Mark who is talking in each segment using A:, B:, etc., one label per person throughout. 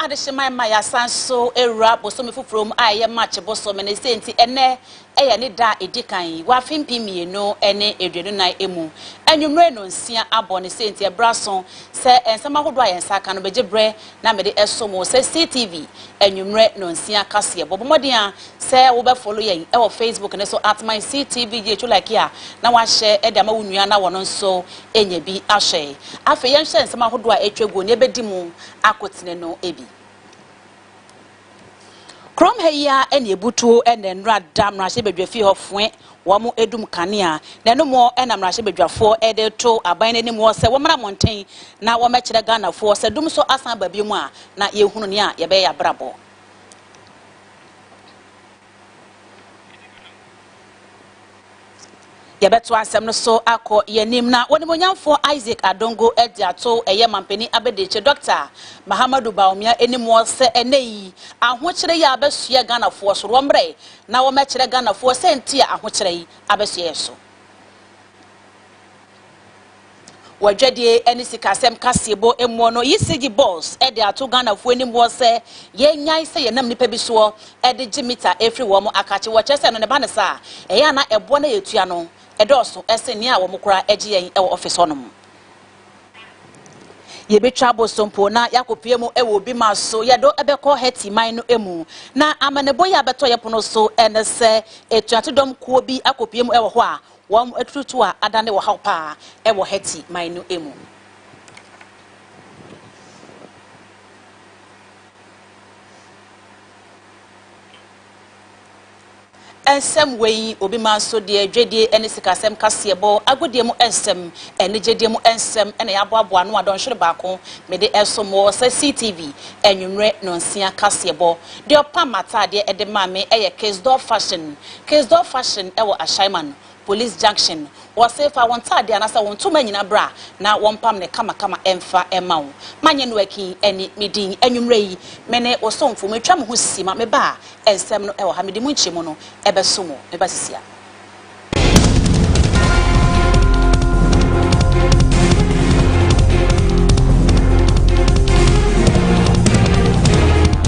A: Adehyeman ma yɛasan so awura bosome foforɔ mu a ɛyɛ March bosome ne sei nti ɛnnɛ yɛ ne da a ɛdi kan wɔ afe mpem mmienu ne aduonu nan mu. Anwummere no nsia abɔ ne sei nti ɛberɛ aso sɛ nsɛm ahodoɔ a yɛn nsa aka no bɛgye berɛ na mede ɛso mo sɛ CTV anwummere no nsia kaseɛbɔ. Bɔ mmɔden ara sɛ wo bɛ follow yɛn wɔ Facebook no so at myctvgh wo like a na wahyɛ de ama wo nua na wɔn nso anya bi ahyɛ. Afei yɛnhwɛ nsɛm ahodoɔ a atwa guo na yɛbɛdi mu akotene no bi. Kurom ha yi ara na ebutuo na nnora da mmarahyɛbadwafie hɔ foe wɔn dum kanea, na ɛno mu na mmarahyɛbadwafoɔ de reto aban no anim hɔ sɛ wɔmmra mmɔnten na wɔmmɛkyerɛ Ghanafoɔ sɛ dum nso asan aba bio a na yɛhunu nea yɛbɛyɛ yɛn abrabɔ. Yɛbɛtoa nsɛm no so akɔ yɛn anim na Onimuonyamfoɔ Isaac Adongo de ato ɛyɛ Mampanin Abadiakyire Dɔkta Mahamadou Bawumia anim wɔ sɛ ɛnnɛ yi ahokyerɛ yi abɛsoɛ Ghanafoɔ so, wɔmmrɛ na wɔmmɛkyerɛ Ghanafoɔ sɛnti a ahokyerɛ yi abɛsoɛ yɛn so. Wɔ adwadie ne sikasɛm kaseɛbɔ muɔ no, Yisigi Boss de ato Ghanafoɔ anim hɔ sɛ, yɛnnyae sɛ yɛnam nnipa bi soɔ de gye mita firi wɔn akakye wɔ kyerɛ sɛ no ne ba no sa a, ɛyɛ a na ɛboɔ no a yɛtua no dɔɔso sen nea wɔn koraa gye yɛn wɔ ɔfese hɔ nom. Yɛbɛtwa aboso mpo na yɛakɔpue mu wɔ obi ma so, yɛ do bɛkɔ Haiti man no mu. Na amanebɔ yi a abɛtɔ yɛn pono so ne sɛ, atuatedɔm kuo bi akɔpue mu wɔ hɔ a Wɔn atututuwa adane ɔhaw paa wɔ Haiti man no mu. Nsɛm wei, obi man so deɛ, dwadie ne sikasɛm kaseɛbɔ, agodie mu nsɛm, anigyedie mu nsɛm na yɛaboaboa ano a dɔnhwere baako mede resom mo wɔ SeeTv anwummerɛ nnɔnsia kaseɛbɔ. Deɛ ɔpam m'ataadeɛ de maa me yɛ Kisdorr Fashion. Kisdorf Fashion wɔ Ashaiman, Police Junction no. Wɔse fa wo ntaadeɛ anaasɛ wo ntoma nyina bra na wɔmpam no kamakama mfa mma wo. Manye no Akin ne me din. Anwummerɛ yi, me ne wo somfo, metwa me ho si ma me ba a nsɛm no wɔ ha. Mede mo nkyɛmu no bɛso mo. Me ba sisi a.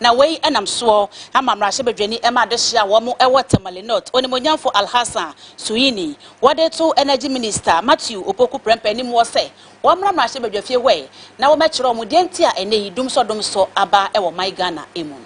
A: Na wei nam soɔ ama mmarahyɛbadwani ma adehyeɛ a wɔn wɔ Tamale North, Onimuonyamfo Alhassan Suini, wɔde to Energy Minister Matthew Opoku Prempeh anim hɔ sɛ wɔmmra mmarahyɛbadwafie hɔ na wɔmmɛkyerɛ wɔn deɛ nti a ɛnnɛ yi Dumsɔ Dumsɔ aba wɔ man Ghana mu no.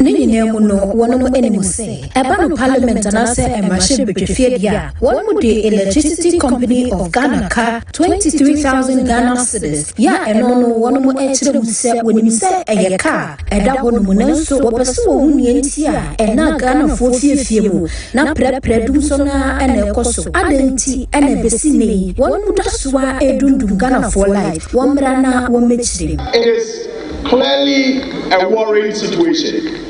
A: Ne nyinaa
B: mu no, wɔnom anim se, ɛba no Parliament anaasɛ mmarahyɛbadwafie deɛ a, wɔnom de Electricity Company of Ghana ka Twenty three thousand Ghana cedis yɛ a ɛno no wɔnom ɛkyerɛ mu sɛ wɔnim sɛ ɛyɛ ka a ɛda hɔ nom nanso wɔpɛ sɛ wɔhu nea nti a ɛna Ghanafoɔ fiefie mu na prɛprɛ dumsɔ no ara ɛna ɛkɔ so adɛn nti ɛna ɛbɛsi nnɛ yi wɔnom da so ara ɛredumdum Ghanafoɔ life wɔmmra na wɔmmɛkyerɛ mu. It is
C: clearly a worrying situation.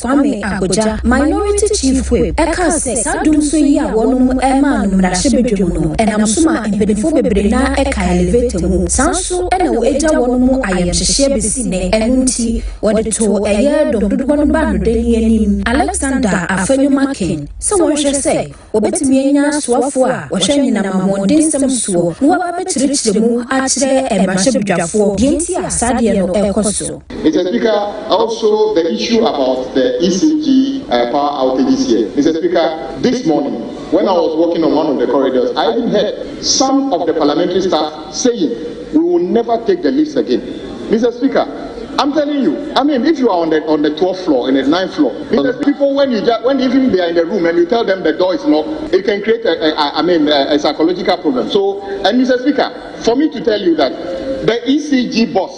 B: Kwame Agbodza, Minority Chief Whip, kaa sɛ saa dumsɔ yi a wɔnom maa no mmarahyɛbadwam no nam so ma mpaninfoɔ bebree no ara ka elevator mu, saa nso na wɔ agya wɔnom ayamhyehyeɛ bɛsi nnɛ, ɛno nti wɔde too ɛyɛ dɔm dodoɔ no baanodani anim Alexander Afenyo-Markin sɛ wɔnhwɛ sɛ Wɔbɛtumi anya asoafoɔ a wɔhwɛ anyinam ahoɔdensɛm soɔ na wɔaba abɛkyerɛkyerɛ mu akyerɛ mmarahyɛbadwafoɔ deɛ nti a saa adeɛ no rekɔ so. Mister Speaker,
D: also the issue about the ECG power outages here, Mister Speaker, this morning when I was walking on one of the corridors, I even heard some of the parliamentary staff, saying we will never take the lift again Mister speaker I'm telling you I mean if you are on the on the twelfth floor and the ninth floor Mister people when you just when even they are in the room and you tell them the door is locked it can create a, a, a I mean a, a psychological problem so and Mister speaker for me to tell you that the ECG boss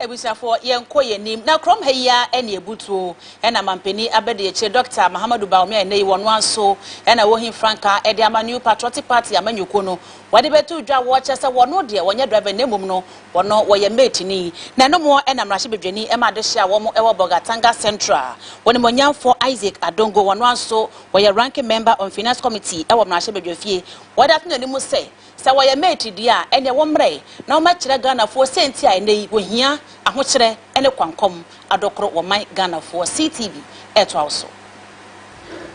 A: Abusuafoɔ, yɛnkɔ yɛn anim na kurom ha yi ara ɛne abutuo ɛna mampanin abɛdeɛkyɛ Dɔkta Mahamadou Bawumia a ɛnnɛ yi wɔn ara nso ɛna wɔhi frankaa ɛde ama New Patriotic Party amanyɔkuo no wɔde bɛto dwa wɔkyerɛ sɛ wɔn deɛ wɔnyɛ driver na mmom no Wɔno wɔyɛ Mɛɛtini, na ɛno moɔ na mmarahyɛbadwani ma adehye a wɔn wɔ Bolgatanga Central. Wɔnimonyamfoɔ Isaac Adongo wɔnoa nso wɔyɛ Ranking Member on Finance Committee wɔ mmarahyɛbadwafie. Wɔde ato n'anim sɛ, sɛ wɔyɛ Mɛɛti deɛ a ɛneɛ wɔmmrɛ na wɔmɛkyerɛ Ghanafoɔ sɛnti a ɛnɛ yi wɔhia ahokyerɛ ne kwankɔm adokoro wɔ man Ghanafoɔ. CTV ɛtoa wo so.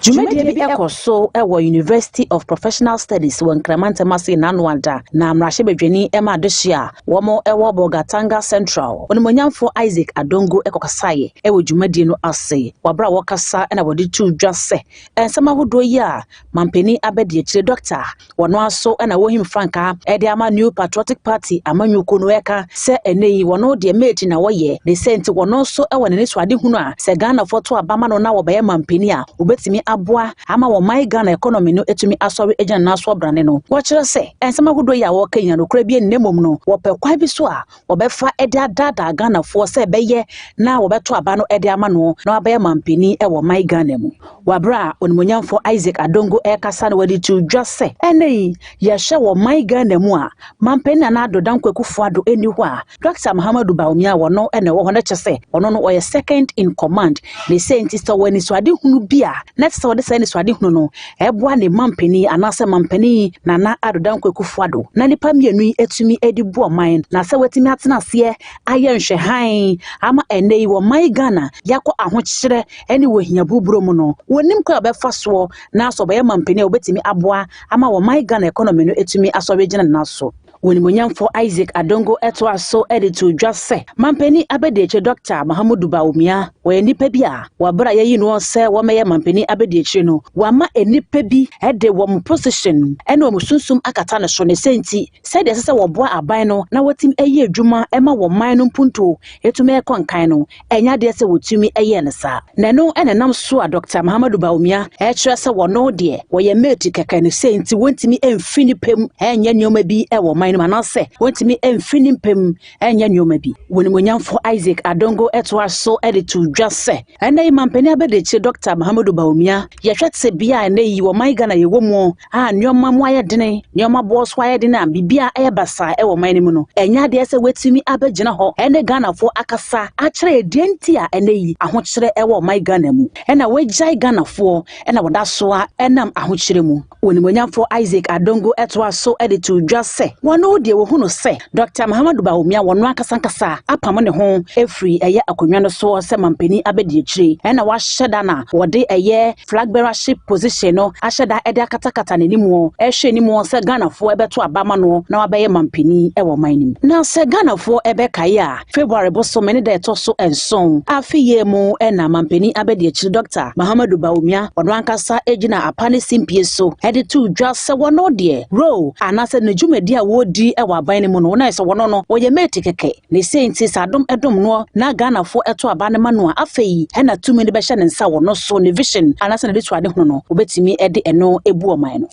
A: Dwumadie bi kɔ so wɔ University of Professional Studies wɔ Nkrama Ntam ase nnanoa da, na mmarahyɛbadwani ma adehye a wɔwɔ Bolgatanga Central, Onimuonyamfoɔ Isaac Adongo kɔkasaeɛ wɔ dwumadie no ase. Wɔ berɛ a wɔkasa na wɔde too dwa sɛ nsɛm ahodoɔ yi a Mampanin abadiakyire dɔkta a wɔn ara so na wɔhim frankaa de ama New Patriotic Party amanyɔkuo no reka sɛ ɛnɛ yi wɔn deɛ mate na wɔyɛ de sɛ nti wɔn nso wɔ n'anisoadehunu a sɛ Ghanafoɔ to aba ma no na wɔbɛyɛ mampanin a wɔbɛtumi aboa ama wɔn man Ghana economy no atumi asɔre agyina ne nan so abrane no. Wɔkyerɛ sɛ nsɛm ahodoɔ yi a wɔreka nyinaa nokorɛ bi nni na mmom no wɔpɛ kwan bi so a wɔbɛfa de adaadaa Ghanafoɔ sɛ ɛbɛyɛ na wɔbɛto aba no de ama no na wabɛyɛ mampanin wɔ ɔman Ghana mu. Wɔ berɛ a Onimuonyamfoɔ Isaac Adongo rekasa no wɔde too dwa sɛ ɛnnɛ yi yɛhwɛ wɔ ɔman Ghana mu a Mampanin Nana Addo Dankwa Akufo Addo nni hɔ a Dɔkta Mahamadou Bawumia a wɔno na ɛwɔ hɔ no kyerɛ sɛ ɔno no ɔyɛ second in command ne sɛ nti sɛ ɔwɔ anisoadehunu bi a na ɛsɛ sɛ wɔde saa anisoadehunu no Ɛboa ne manpanin anaasɛ manpanin Nana Addo Dankwa Akufo Addo na nnipa mmienu yi atumi de bu ɔman na sɛ wɔatumi atena aseɛ ayɛ nhwɛ hann ama ɛnnɛ yi wɔ ɔman Ghana yɛakɔ ahokyerɛ ne wɔ hia buruburo mu no wɔnim kwan a wɔbɛfa soɔ na sɛ wɔbɛyɛ manpanin a wɔbɛtumi aboa ama wɔ ɔman Ghana economy no atumi asɔre agyina ne nan so. W'animuonyamfo
B: Isaac Adongo toa so de too dwa sɛ, Mampanin Abadiakyire Dɔkta Mahamudu Bawumia, wɔyɛ nnipa bi a wɔ bere a yɛayi noɔ sɛ wɔmmɛyɛ Mampanin Abadiakyire no, wɔama nnipa bi de wɔn position ne wɔn sunsum akata no so, ne sɛ nti, sɛdeɛ ɛsɛ sɛ wɔboa aban no na wɔtim ɛyɛ adwuma ma wɔn man no mpuntuo tumi kɔ nkan no, Ɛnyɛ adeɛ sɛ wɔtumi yɛɛ no saa. Na ɛno na ɛnam so a Dɔkta Mahamadou Bawumia rekyerɛ sɛ wɔno deɛ wɔyɛ mate kɛkɛ no sei nti wɔntumi mfiri ne pɛ mu nyɛ nneɛma bi wɔ ɔman no mu anaasɛ wɔntumi mfiri ne mpɛ mu nyɛ nneɛma bi. W'animuonyamfo Isaac Adongo toa so de too dwa sɛ, Ɛnnɛ yi Mampanin Abadiakyire Dɔkta Mahamadou Bawumia, yɛhwɛ tebea a ɛnnɛ yi ɔman Ghana yɛwɔ mu a nneɛma mu ayɛ den, nneɛma boɔ so ayɛ den a biribiara ayɛ basaa wɔ ɔman no mu no, ɛnyɛ adeɛ sɛ watumi abɛgyina hɔ ne Ghanafoɔ akasa akyerɛ yɛn deɛ nti a ɛnɛ yi ahokyerɛ wɔ ɔman Ghana mu na wagyae Ghanafoɔ na wɔda so ara nam ahokyerɛ mu. Onimuonyamfoɔ Isaac Adongo toa so de too dwa sɛ wɔno deɛ wɔhu no sɛ Dɔkta Mahamadou Bawumia wɔno ankasa ankasa apamo ne ho afiri ɛyɛ akonnwa no soɔ sɛ mampanin abadiakyire na wahyɛ da na wɔde ɛyɛ Flag bearer ship position no ahyɛ da de akatakata n'anim rehwɛ anim sɛ Ghanafoɔ bɛto aba ama no na wabɛyɛ mampanin wɔ ɔman no mu. Na sɛ Ghanafoɔ bɛkae a, February bosome ne da ɛtɔ so nson afe yei mu na Mampanin Abadiakyiri Dɔkta Mahamadou Bawumia ɔno ankasa gyina apa ne simpie so de too dwa sɛ wɔno deɛ role anaasɛ ne dwumadi a wɔredi wɔ aban no mu no na ayɛ sɛ wɔno no wɔyɛ mate kɛkɛ. Ne sei nti sɛ adom dom noɔ na Ghanafoɔ ɛto aba no ma no a, afei na tumi no bɛhyɛ ne nsa wɔ no so, ne vision anaasɛ ne de to ade hunu no, wɔbɛtumi de ɛno abu ɔman no.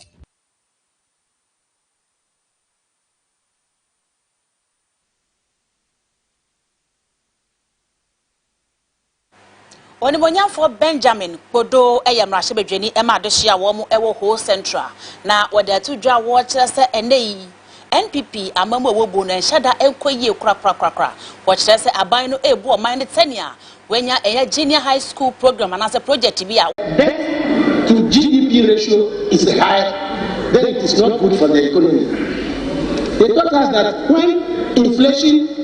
A: Onimuonyamfoɔ Benjamin Kpodo yɛ mmarahyɛbadwani ma adehye a wɔwɔ Ho Central na wɔde ato dwa a wɔkyerɛ sɛ ɛnnɛ yi NPP amammu a wɔbu no nhyɛ da nkɔ yie korakorakorakora. Wɔkyerɛ sɛ aban no rebu ɔman no sɛnea wɔanya ɛyɛ Junior High School Programme anaasɛ project bi a. Debt to
E: GDP ratio is high then it is not good for the economy. They taught us that when inflation.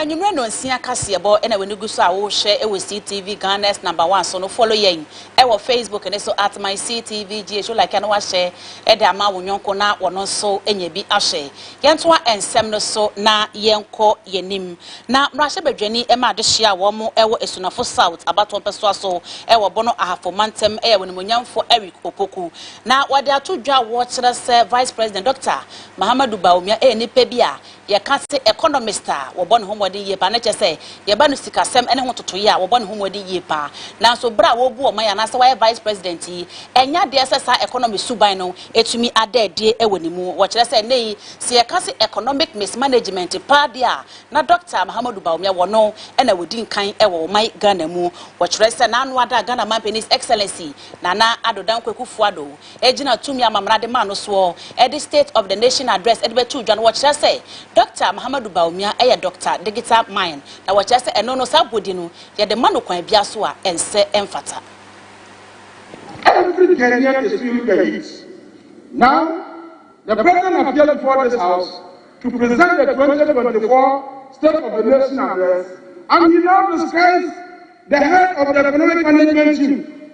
A: Anwumerɛ nnɔnsia kaseɛbɔ na w'ani gu so a worehwɛ wɔ CTV Ghana's number one so no, follow yɛn wɔ Facebook no so at myctvgh, wo like a na wahyɛ de ama wo yɔnko na ɔno nso anya bi ahwɛ. Yɛntoa nsɛm no so na yɛnkɔ yɛn anim. Na mmarahyɛbadwani ma adehyeɛ a wɔn wɔ Asunafo South abatoɔ mpɛsoa so wɔ Bono Ahafo mantam yɛ w'animuonyamfoɔ Eric Opoku. Na wɔde ato dwa a wɔkyerɛ sɛ Vice President Dɔkta Mahamadou Bawumia yɛ nipa bi a Yɛka se economist a, wɔbɔ ne ho mmɔden yie paa, na kyerɛ sɛ yɛba no sikasɛm ne ho ntotoeɛ a, wɔbɔ ne ho mmɔden yie paa. Nanso berɛ a wɔrebu ɔman yi anaasɛ wayɛ Vice President yi, ɛnyɛ adeɛ sɛ saa economy suban no tumi ada adie wɔ ne mu. Wɔkyerɛ sɛ nnɛ yi, sɛ yɛka se economic mismanagement paa deɛ a, na Dɔkta Mahamudu Bawumia, wɔno na wɔdi nkan wɔ ɔman Ghana mu. Wɔkyerɛ sɛ n'ano ada a Ghana Manpanin His Excellency Nana Addo Dankwa Akufo-Addo gyina tumi a Mamana de maa no soɔ de State of the Nation Address de bɛtoo dwa no, wɔkyerɛ sɛ Dɔkta Mahamadou Bawumia yɛ Dɔkta Digital Mind, na wɔkyerɛ sɛ ɛno no, saa bɔdi no, yɛde ma no kwan biara so a ɛnsɛ ɛmfata. Every Ghanaian is
F: feeling the heat now, the President appeared before this House to present the twenty twenty four State of the Nation Address and he now describes the head of the Economic Management Team,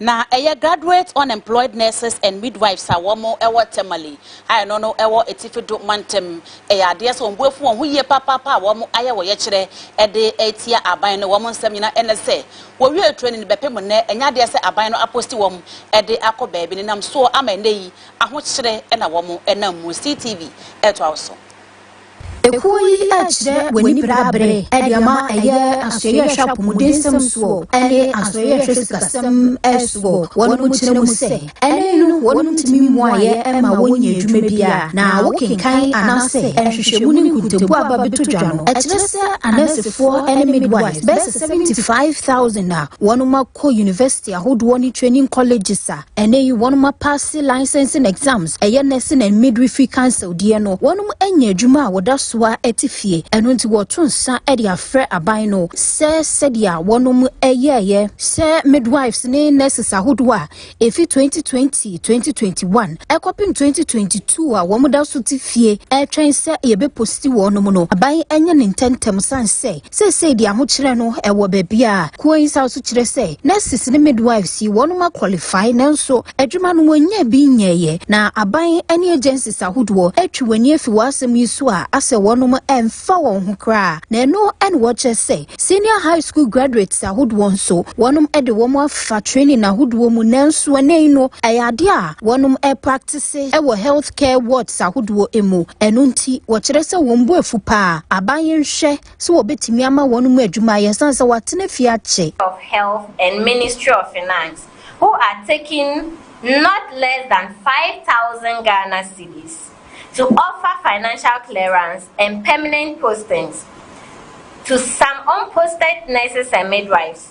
A: Na ɛyɛ Graduate Unemployed Nurses and Midwives a wɔn wɔ Tamale a ɛno no wɔ Atifi Do Mantam. Ɛyɛ adeɛ sɛ wɔn bo afu wɔn ho yie papaapa a wɔn ayɛ wɔyɛkyerɛ de atia aban no. Wɔn nsɛm nyina ɛne sɛ wɔwie training bɛpem nnɛ ɛnyɛ adeɛ sɛ aban no aposti wɔn de akɔ baabi no nam soɔ ama ɛnnɛ yi ahokyere na wɔn nam mu. CTV ɛtoa wo so. Ekuo
B: yi rekyerɛ w'aniberɛaberɛ de ama ɛyɛ asoɛyɛhwɛ apɔmudensɛm soɔ ne asoɛyɛhwɛ sikasɛm soɔ. Wɔnom kyerɛ mu sɛ, ɛne no wɔnom tumi mmuaeɛ mma wɔnnyɛ adwuma biara, na wokenkan anaasɛ nhwehwɛmu ne nkontompo a aba bɛtɔ dwa no kyerɛ sɛ anɛɛsefoɔ ne midwives bɛyɛ sɛ 75,000 a wɔnom akɔ university ahodoɔ ne training colleges a Ɛnnɛ yi wɔnom apaase Licensing Exams, ɛyɛ Nursing and Midwifery Council deɛ no, wɔnom anya adwuma a wɔda so ara te fie, ɛno nti wɔreto nsa de afrɛ aban no sɛ sɛdeɛ wɔnom yɛeɛ sɛ Midwives ne Nurses ahodoɔ a ɛfiri 2020, 2021 kɔpem 2022 a wɔn da so te fie retwɛn sɛ yɛbɛposti wɔnom no, aban nyɛ no ntɛmntɛm sane sɛ Seesei de ahokyerɛ no wɔ baabi a Kuo Nsaw so kyerɛ sɛ nurses ne midwives yi wɔnom a qualify nanso adwuma no wɔnyaa bi nyɛɛyɛ na aban ne agencies ahodoɔ atwi w'ani afi w'asɛm yi so a asɛ wɔnom mfa wɔn ho koraa na ɛno ne wɔkyerɛ sɛ senior high school graduates ahodoɔ nso wɔnom de wɔn afa training ahodoɔ mu nanso ɛnɛ yi no ɛyɛ adeɛ a wɔnom practice wɔ health kɛ wards ahodoɔ mu. Ɛno nti, wɔkyerɛ sɛ wɔn bo afu pa ara. Aban yi nhwɛ sɛ wɔbɛtumi ama wɔn mu adwuma ayɛ ɛsiane sɛ wɔatena fie akyɛ. of Health and
G: Ministry of Finance who are taking not less than five thousand Ghana cedis to offer financial clearance and permanent postings to some unposted nurses and midwives.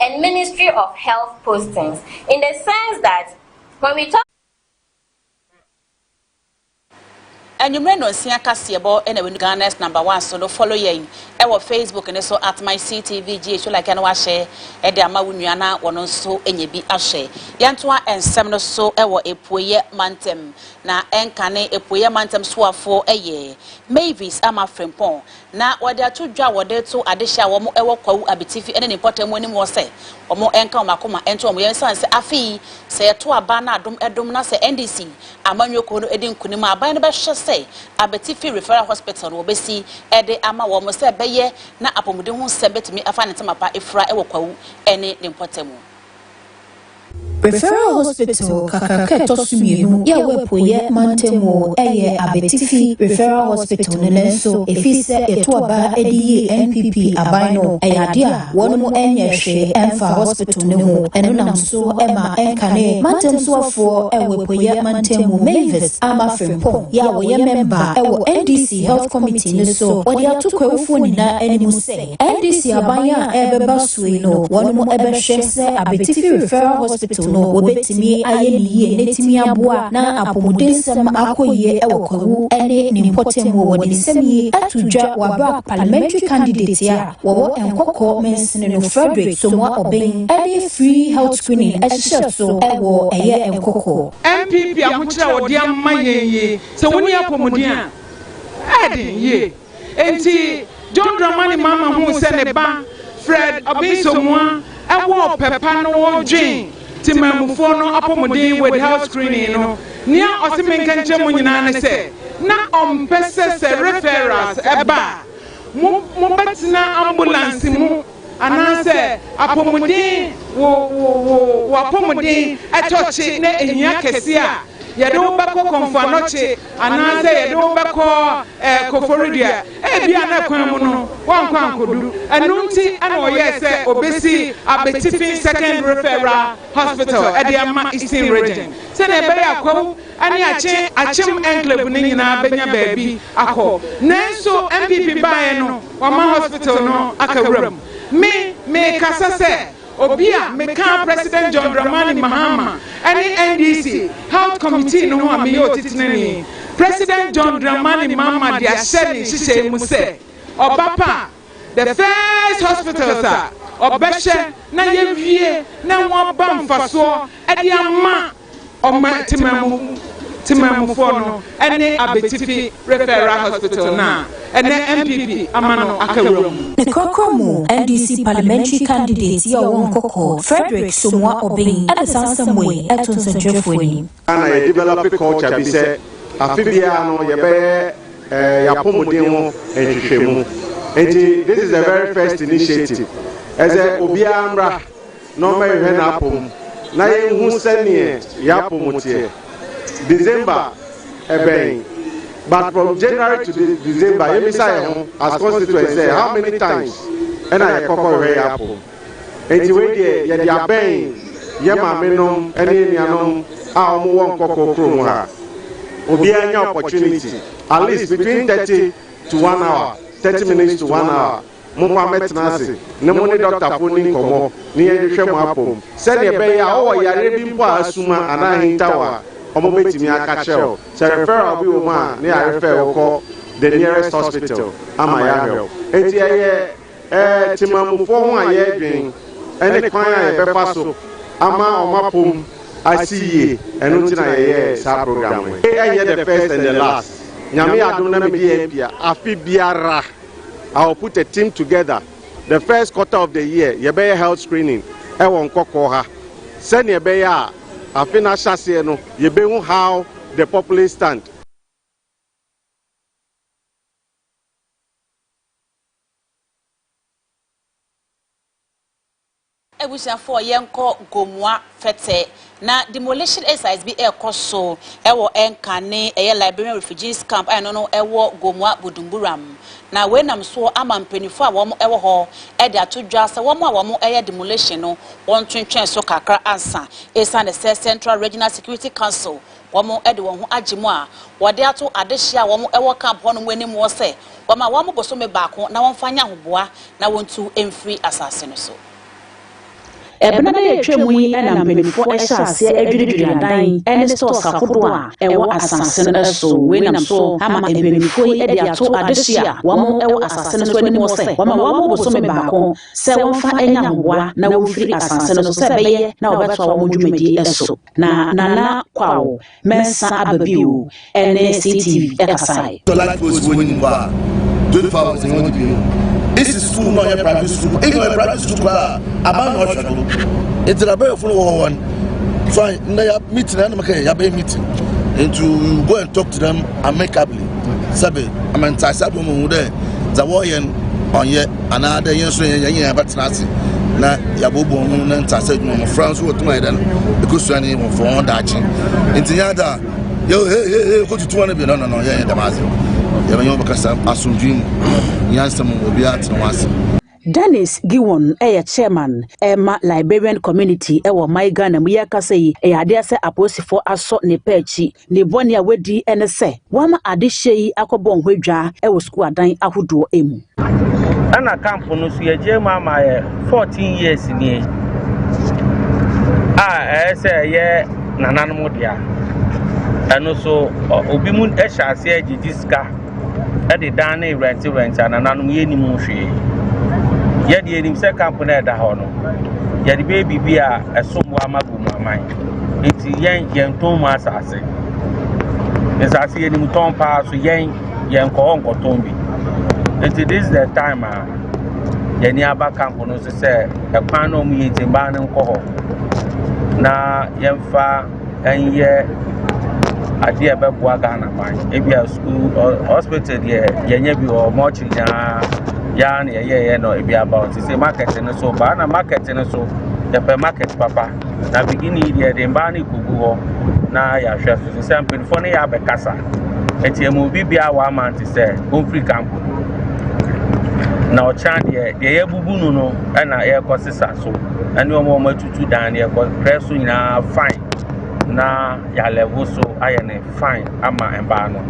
G: and ministry of health postings in the sense that when we talk
A: Anwummere nonsia kaseɛbɔ na wenu Ghana's number one so no follow yɛn ɛwɔ Facebook ne so at my CTVGH so like na wahyɛ ɛde ama wo nua na wɔn nso nyɛ bi ahwɛ yɛntoa nsɛm no so ɛwɔ epueyɛ mantam na ɛnka ne epueyɛ mantam soafoɔ ɛyɛ Mavis ama Frimpong Na wɔde ato dwa a wɔde reto adehye a wɔn wɔ Kwawu Abitifi ne ne mpɔtam wɔ anim hɔ sɛ wɔn nka wɔn akoma nto wɔn yam esiane sɛ afei sɛ yɛto aba na adom dom na sɛ NDC amanyɔ kuo no di nkunim a aban no bɛhwɛ sɛ Abitifi Referral Hospital no wɔbɛsi de ama wɔn sɛ ɛbɛyɛ na apɔmuden ho nsɛm bɛtumi afa ne ntɛm apa afira wɔ Kwawu ne ne mpɔtam. Referral
B: Hospital kakraka a ɛtɔ so mmienu a ɛwɔ Apueeɛ mantam mu yɛ Abetifi Referral Hospital no nanso ɛfiri sɛ yɛto aba de yii NPP aban no, ɛyɛ adeɛ a wɔnom nyɛɛ hwee mfaa hospital no ho. Ɛno nam so ma ɛnkane mantam soafoɔ wɔ Apueeɛ mantam mu Mavis Ama Frimpong yɛ a ɔyɛ mɛmba wɔ NDC Health Committee no so, ɔde ato Kwahufoɔ nyinaa anim sɛ, NDC aban a ɛrebɛba so yi no wɔnom bɛhwɛ sɛ Abetifi Referral Hospital no wɔbɛtumi ayɛ no yie na atumi aboa na apɔmudensɛm akɔ yie wɔ Kwawu ne ne mpɔtam wɔ wɔde nsɛm yi ato dwa wɔ aberɛ a Parliamentary Candidate a wɔwɔ Nkɔkɔ Mansini no Fredrick Somoa Obeng de free health screening ahyehyɛ so wɔ ɛyɛ Nkɔkɔ. NPP ahokyerɛ
H: a wɔde ama yɛn yi, sɛ wonni apɔmuden a, ɛyɛ den yie. Enti John Dramani Mahama huu sɛ ne ba Fred Obinsomoa wɔ ɔpɛ pa no wɔ dwen temanmufoɔ no apɔmuden with health screening no. Nea ɔse menka nkyerɛ mo nyinaa ne sɛ na ɔmpɛ sɛ sɛ referrals ba a, mo mobɛtena ambulance mu. Anaasɛ apɔmuden wo wo wo wo apɔmuden ɛtɔ kye na ehia kɛse a, yɛde wo bɛkɔ Kɔmfoanɔkye anaasɛ yɛde wo bɛkɔ ɛɛ Koforidua. Ebia na kwan mu no woankɔ ankodu. Ɛno nti na wɔyɛɛ sɛ wɔbɛsi Abetifi Second Referral Hospital de ama Eastern Region sɛnea ɛbɛyɛ a Kwawu ne akye akyem enclave no nyinaa bɛnya baabi akɔ. Nanso NPP baeɛ no wɔama hospital no aka wuram. Me, mekasa sɛ obi a mekaa President John Dramani Mahama ne NDC Health Committee no ho a meyɛ otitenani. President John Dramani Mahama de ahyɛ ne nhyehyɛe mu sɛ ɔba pa a, The first hospitals a ɔbɛhyɛ na yɛawie na wɔaba mfasoɔ de ama ɔman Temamu Temamufoɔ no ne Abetifi Referral Hospital no a ɛnnɛ NPP ama no aka wura mu. Ne korakora mu
B: NDC parliamentary candidate yi a ɔwɔ Nkoko, Frederick Somoa Obeng de saa nsɛm wei to nsɛntwerɛfoɔ anim. Ghana yɛ develop
I: culture bi sɛ afe biara no yɛbɛyɛ yɛapɔmuden ho nhwehwɛmu nti this is the very first initiative ɛsɛ obiara mmra na ɔmmɛhwehwɛ n'apɔm na yɛnhu sɛneɛ yɛapɔm teɛ December ɛbɛn but from January to December yɛmmisa yɛ ho as constituents sɛ how many times ɛna yɛkɔkɔhwehwɛ yɛapɔm Enti wei deɛ yɛde abɛn yɛ maame nom ɛne anuanom a ɔmo wɔ nkɔkɔɔ kuro mu ha. Obiaa nya opportunity at least between thirty to one hour, thirty minutes to one hour mo fa mɛtena ase ne mo ne doctor foɔ nni nkɔmɔ ne yɛn hwehwɛ mo apɔm sɛdeɛ ɛbɛyɛ a wowɔ yareɛ bi mpo a asuma anaa ahintaw a ɔmo bɛtumi aka kyerɛ wo sɛ referral bi wɔ mu a ne yɛarefɛɛ wo kɔ the nearest hospital ama yɛahwɛ wo. Enti ɛyɛ. Ɛɛ, Temanmufoɔ ho a yɛredwen ne kwan a yɛbɛfa so ama wɔn apɔm asi yie, ɛno nti na yɛyɛɛ saa program wei. Wei ɛnyɛ the first and the last, Nyame yɛ adom na mede yɛn pia afe biara, I will put a team together, the first quarter of the year yɛbɛyɛ health screening wɔ Nkɔkɔɔ ha, sɛdeɛ ɛbɛyɛ a afe no ahyɛaseɛ no yɛbɛhu how the populace stand.
A: Abusuafoɔ yɛnkɔ Gomoa fɛtɛ. Na demolition exercise bi ɛrekɔ so ɛwɔ Nka ne ɛyɛ Liberian refugees camp a ɛno no ɛwɔ Gomoa Budumburam. Na wei nam soɔ ama mpaninfoɔ a wɔn ɛwɔ hɔ ɛde ato dwa sɛ wɔn a wɔn ɛyɛ demolition no wɔntwentwɛn so kakra ansa ɛsiane sɛ Central Regional Security Council Wɔde wɔn ho agye mu a wɔde ato adehye a wɔwɔ camp hɔnom anim hɔ sɛ wɔma wɔn bosome baako na wɔmfa nyɛ ahoboa na wɔntu mfiri asase no so.
J: Ɛberɛ no a ɛtwam yi na mpanimfoɔ hyɛɛ aseɛ adwiridwiri adan ne stores ahodoɔ a ɛwɔ asase no so. Wei nam so ama mpanimfoɔ yi de ato adehye a wɔwɔ asase no so anim hɔ sɛ wɔma wɔn bosome baako sɛ wɔmfa nyɛ ahoboa na wɔmfiri asase no so sɛ ɛbɛyɛ na wɔbɛtoa wɔn dwumadie so. Na Nana Kwawo Mensah aba bio ne CTV kasae. Sɛ life goes bi wɔnyi no hɔ
K: a, twenty four hours yɛwɔ no bi no. Isi sukuu no ɔnyɛ private sukuu, even ɔyɛ private sukuu koraa a, aban na ɔhwɛ no. Nti na abɛɛfo no wɔ hɔ wɔn, fine, nnɛ yɛ meeting na ɛna meka yɛ abɛyɛ meeting, nti we will go and talk to them. amicably sɛbe ama ntaase abɔ mu hu dɛ dza wɔyɛ no ɔnyɛ anaadɛ yɛn nso yɛn nyinaa yɛbɛtena ase na yɛaboaboa ho na ntaase adwuma mmɔfra nso wɔtum ayɛ dɛ no ɛkɔsua ne wɔfo wɔn daakye nti nyɛ adɛ a yɛhehehe kɔtutu wɔn no bi no no no yɛnyɛ dɛm ase yɛbɛnyɛ wɔbɛkasa asomdwee mu nyansɛm mu obiara tena wɔn ase Dennis
J: Giwon yɛ chairman ma Liberian community wɔ my Ghana mu. Yɛ kasa yi yɛ adeɛ sɛ apolisifɔ asɔ ne pɛ akyi. Ne bɔne a wadi ne sɛ wama ade hyɛ yi akɔ bɔ nho adwa wɔ sukuu adan ahodoɔ mu. Ɛna
L: camp no nso yɛ gye mu ama yɛ 14 years nie a ɛyɛ sɛ ɛyɛ nananom dea. Ɛno so obi mu hyɛ aseɛ gyegye sika. de dan no rent rent a nananom yɛnnim ho hwee. Yɛde yɛnim sɛ kampo no a ɛda hɔ no, yɛde bɛyɛ biribi a ɛsom bo ama gu mu aman. Nti yɛn yɛntɔn mu asase. Nsase yɛnim tɔn paa so yɛn yɛnkɔ hɔ nkɔtɔn bi. Nti this is the time a yɛni aba kampo no so sɛ ɛkwan na ɔmo yɛ nti mmaa no nkɔ hɔ na yɛmfa nyɛ adeɛ a ɛbɛboa Ghana man. Ebia sukuu ɔ hospital deɛ yɛnyɛ bi wɔ hɔ, mortuary no ara yɛ ara na yɛyɛeɛ na ebi aba hɔ. Te sɛ market no nso, baa na market no nso, yɛpɛ market papa. Na beginning deɛ yɛde mmaa no rekɔgu hɔ na yɛahwɛ so. Te sɛ mpanimfoɔ no yɛ abɛkasa. Ɛnti ɛma obi biara one month sɛ ɔmfiri camp no. Na ɔkyena deɛ, deɛ yɛabubu no no na yɛrekɔ sesa so ɛne wɔn a wɔatu tu dan no yɛkɔ press so nyinaa fine na yɛ alɛvo so ayɛ no fine ama mmaa no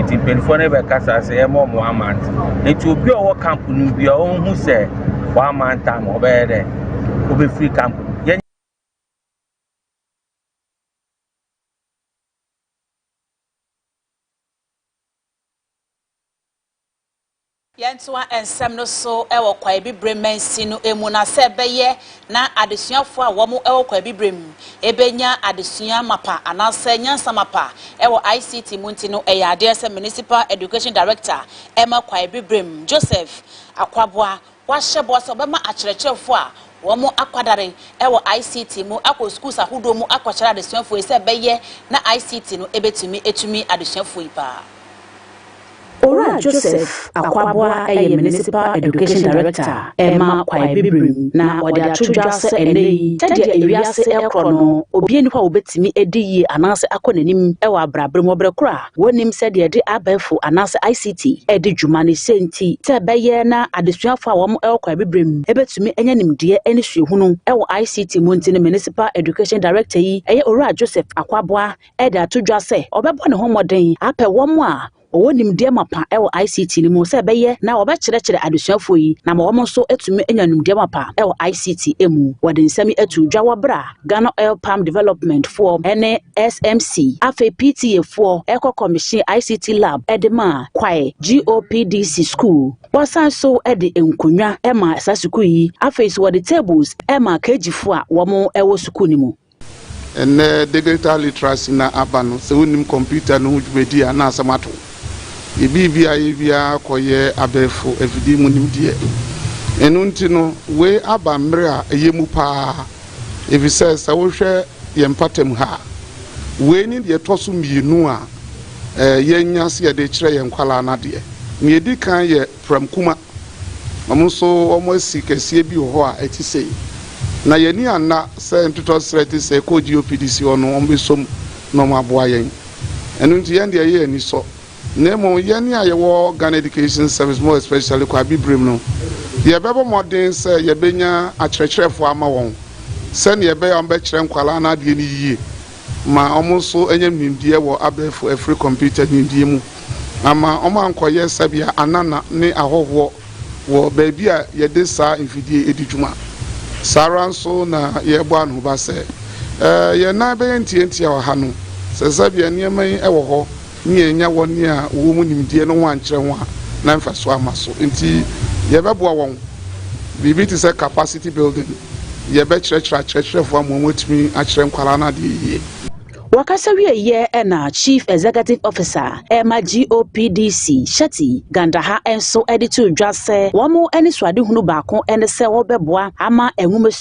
L: nti mpanyinfoɔ no bɛkasa sɛ yɛma ɔmo one month nti obi a ɔwɔ camp no bi a ɔnhu sɛ one month time ɔbɛyɛ dɛ ɔbɛfiri camp no yɛn.
A: Yɛntoa nsɛm no so wɔ Kwaabibire mansin no mu na sɛ ɛbɛyɛ na adesuafoɔ a wɔn wɔ Kwaabibire mu bɛnya adesua mapa anaasɛ nyansa mapa wɔ ICT mu nti no, ɛyɛ adeɛ sɛ Municipal Education Director ma Kwaabibire mu, Joseph Akwaboah Wɔahyɛ bɔ sɛ wɔbɛma akyerɛkyerɛfo a wɔakwadare wɔ ICT mu akɔ skuls ahodoɔ mu akɔkyerɛ adesuafoɔ yi sɛ bɛyɛ na ICT no bɛtumi atumi adesuafoɔ yi paa.
J: Owura Joseph Akwaboah yɛ Municipal Education Director a ɛma Kwae Bibrim na ɔde ato dwa sɛ ɛnnɛ yi sɛdeɛ ewiase rekorɔ no, obiara nni hɔ a ɔbɛtumi adi yie anaasɛ akɔ n'anim wɔ abrabra mu wɔ berɛ korɔ a Wonnim sɛdeɛ yɛde abɛɛfo anaasɛ ICT redi dwuma ne sɛ nti sɛ ɛbɛyɛ na adesuafo a wɔwɔ kwan abibirem betumi anya nimdeɛ ne suahunu wɔ ICT mu nti ne Municipal Education Director yi ɛyɛ Owura Joseph Akwaboah de ato dwa sɛ ɔbɛbɔ ne ho mmɔden apɛ wɔn a wɔwɔ nimdeɛ mapa wɔ ICT no mu sɛ ɛbɛyɛ na wɔbɛkyerɛkyerɛ adesuafoɔ yi na ama wɔn nso atumi anya nimdeɛ mapa wɔ ICT mu. Wɔde nsɛm yi too dwa wɔ bere a Ghana Oil Palm Development foɔ ne SMC, afei PTA foɔ ɛkɔ kɔmihyin ICT Lab ɛde maa Kwae GOPDC sukuu. Wɔsan so ɛde nkonnwa ɛmaa saa sukuu yi, afei nso wɔde tables ɛmaa KG foɔ a wɔn ɛwɔ sukuu no mu. Ɛnnɛ
F: digital literacy na aba no, sɛ wonnim kɔmputa no ho dwumadi a na asɛm ato wo. Yɛbii biaa yɛ biaa kɔyɛ abɛɛfo afidie mu nimdeɛ. Ɛno nti no, wei aba mmerɛ a ɛyɛ mu paa. Efisɛ sɛ wohwɛ yɛn mpatamu ha a, wei ne deɛ ɛtɔ so mmienu a yɛanya sɛ yɛde rekyerɛ yɛn nkwadaa no adeɛ. Nea ɛdi kan yɛ Pramkuma. Wɔn nso wɔasi kɛseɛ bi wɔ hɔ a ɛte sei. Na yɛn ani anna sɛ ntotɔserɛ te sɛ ɛkɔɔ GOPDC hɔ no wɔbɛsom na wɔaboa yɛn. Ɛno nti yɛn deɛ ɛyɛ anisɔ. Na mmom yɛn a yɛwɔ Ghana Education Service more especially Kwabi Birim no, yɛbɛbɔ mmɔden sɛ yɛbɛnya akyerɛkyerɛfoɔ ama wɔn sɛdeɛ ɛbɛyɛ a wɔbɛkyerɛ nkwadaa no adeɛ no yie ma wɔn nso anya nimdeɛ wɔ abɛɛfo afiri kɔmputa nimdeɛ mu ama wɔankɔyɛ sɛbea anana ne ahɔhoɔ wɔ baabi a yɛde saa mfidie di dwuma. Saa ara nso na yɛrebɔ anohoba sɛ, eh, yɛn nan bɛyɛ ntiantia wɔ ha no, sɛ sɛbea nneɛma yi wɔ hɔ ne yɛannya wɔn a wɔwɔ mu nimdeɛ no ho ankyerɛ ho a, na mfaso amma so. Enti yɛbɛboa wɔn. Biribi te sɛ capacity building. Yɛbɛkyerɛkyerɛ akyerɛkyerɛfo ama wɔatumi akyerɛ nkwadaa no adeɛ yiye. Wɔkasa
J: wieeɛ na Chief Executive Officer ma GOPDC, Shetty Gandaha nso de too dwa sɛ wɔn anisoadehunu baako ne sɛ wɔbɛboa ama nwomasua.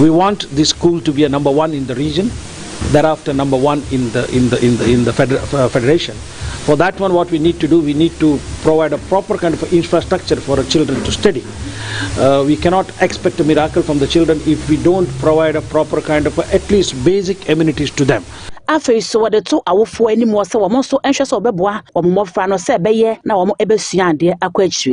M: We want the school to be a number one in the region, thereafter number one in the in the in the in the feder uh, federation. For that one, what we need to do, we need to provide a proper kind of infrastructure for the children to study. Uh, we cannot expect a miracle from the children if we don't provide a proper kind of at least basic amenities to them. afei so wɔde
J: to awofoɔ anim wɔ sɛ wɔn nso nhwɛ sɛ wɔbɛboa wɔn mmɔfra no sɛ ɛbɛyɛ na wɔn bɛsua adeɛ akɔ akyiri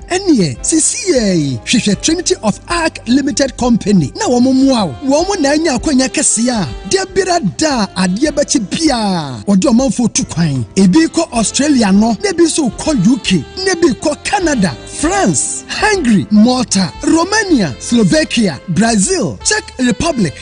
N: Ɛneɛ sisiɛɛi hwehwɛ Trinity of Arc Limited Company na wɔn mmoa wo. Wɔn na anya akwanya kɛseɛ a dabiara da a adeɛ bɛkye biara wɔde ɔmanfoɔ tu kwan. Ebi rekɔ Australia no na ebi nso rekɔ UK na ebi rekɔ Canada, France, Hungary, Malta, Romania, Slovakia, Brazil, Czech Republic,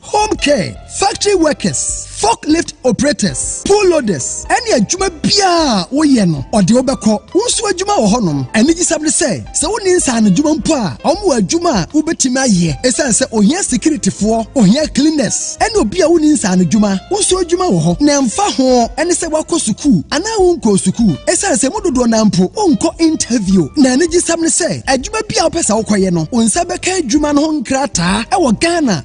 N: home care, factory workers, forklift operators, pool loaders, ɛne adwuma biara a woyɛ no ɔde wobɛkɔ. Wo nso adwuma wɔ hɔnom. Anigyesɛm ne sɛ, sɛ wonni nsaano adwuma mpo a, wɔn wɔ adwuma a wobɛtumi ayɛ ɛsiane sɛ ohia sikiritifoɔ, ohia cleaners, ɛne obi a wonni nsaano adwuma. Wo nso adwuma wɔ hɔ, na ɛmfa ho ɛne sɛ woakɔ sukuu anaa wonkɔɔ sukuu, ɛsiane sɛ mu dodoɔ no ara mpo wonkɔ interview. Na anigyesɛm ne sɛ, adwuma bi a wopɛ sɛ wokɔyɛ no, wo nsa bɛka adwuma no ho nkrataa wɔ Ghana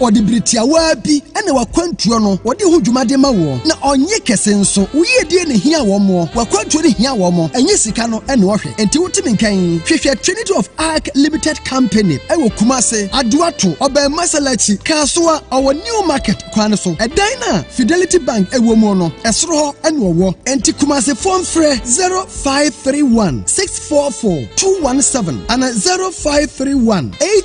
N: Ɔde bere tiawa bi na w'akwantuo no ɔde ho dwuma de ma woɔ, na ɔnnye kɛse nso. Wo yiedie na ehia wɔn moɔ, w'akwantuo no hia wɔn, ɛnyɛ sika no na ɔhwɛ. Enti wote me nka yi, hwehwɛ Trinity of Arc Limited Company wɔ Kumase, Aduato, Ɔbɛn Masalakyi, Kasoa, ɔwɔ New Market kwan no so. Ɛdan no a Fidelity Bank wɔ mu no, ɛsoro hɔ na ɔwɔ. Enti Kumasefoɔ mfrɛ zero five three one six four four two one seven anaa zero five three one eight.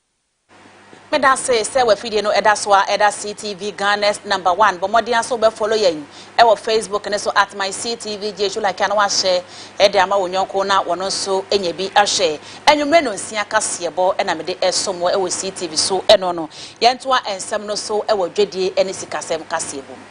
A: Medase sɛ w'afidie no da so ara da CTV Ghana's number one. Bɔ mmɔden ara sɛ wobɛ follow yɛn wɔ Facebook no so at myctvgh. Like a na wahyɛ de ama wo yɔnko na ɔno nso nya bi ahwɛ. Anwummere nonsia kaseɛbɔ na mede som wo wɔ CTV so. Ɛno no, yɛntoa nsɛm no so wɔ dwadie ne sikasɛm kaseɛbɔ mu.